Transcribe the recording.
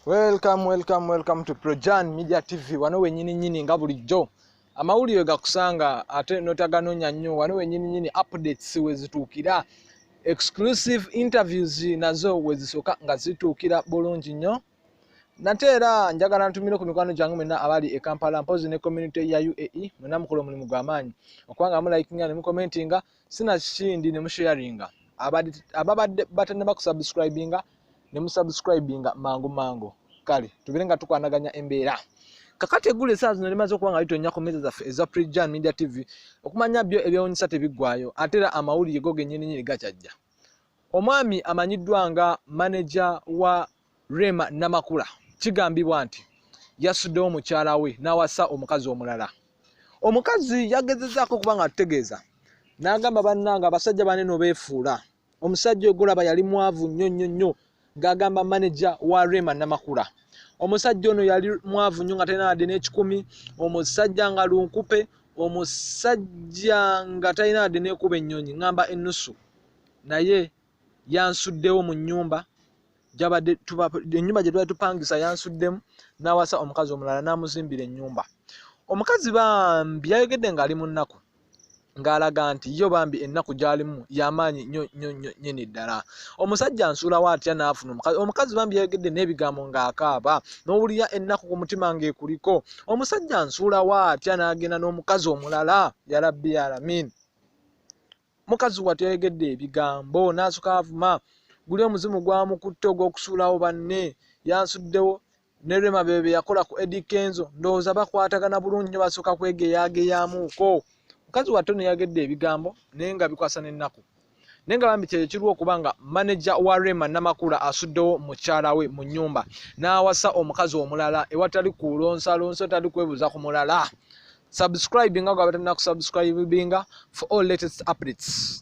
welcome welcome welcome to projan media tv wano wenyini nyini nga bulijjo amawulire gakusanga ate notaganonya nnyo wano wenyini nyini updates wezituukira exclusive interviews nazo wezisooka nga zituukira bulungi nnyo nate era njagala ntumire ku mikwano gyange mwena abali e kampala mpozi ne community ya uae mwena mukola omulimu gwamaanyi okubanga mulikinga ne mukomentinga sina kindi ne musharinga ababadde batannaba kusubscribinga ne musubscribinga mangu mangu kale tubere nga tukwanaganya embeera kakati eggulu esaa zino limaze okuba nga litonnya ku mmeeza zaffe eza prejan media tv okumanya byo ebyewunyisa tebiggwayo ate era amawulire go gennyininyini gakyajja omwami amanyiddwa nga maneja wa rema namakula kigambibwa nti yasuddewo mukyala we n'awasa omukazi omulala omukazi yagezezaako okuba nga atutegeeza n'agamba bannanga abasajja bane no beefuula omusajja ogulaba yali mwavu nnyo nnyo nnyo ng'agamba maneja wa rema namakula omusajja ono yali mwavu nnyo nga talina wadde n'ekikumi omusajja nga lunkupe omusajja nga talina wadde n'ekuba ennyonyi ngamba ennusu naye yansuddewo mu nnyumba gyabadde ennyumba gye twali tupangisa yansuddemu n'awasa omukazi omulala n'amuzimbira ennyumba omukazi bambi yayogedde ng'ali mu nnaku ng'alaga nti yo bambi ennaku gy'alimu y'amaanyi nyo nyo nyo nyini ddala omusajja nsuulawo atya n'afuna omukazi omukazi bambi yayogedde n'ebigambo ng'akaaba n'owulira ennaku ku mutima ng'ekuliko omusajja nsuulawo atya n'agenda n'omukazi omulala yalabbi yalamin mukazi wattu yayogedde ebigambo n'asooka avuma guli omuzimu gwamukutte ogw'okusuulawo banne yansuddewo ne rema bebe be yakola ku edi kenzo ndowooza bakwatagana bulungi nyo basooka kwegeyageyamuuko mukazi wattu no yayogedde ebigambo naye nga bikwasa n'ennaku naye nga bambi kyekyo kiriwo okuba nga maneja wa rema namakula asuddewo mukyala we mu nyumba n'awasa omukazi omulala ewatali kulonsalonsa otali kwebuuza ku mulala subscribe nga gwe abatalina kusubscribinga for all latest updates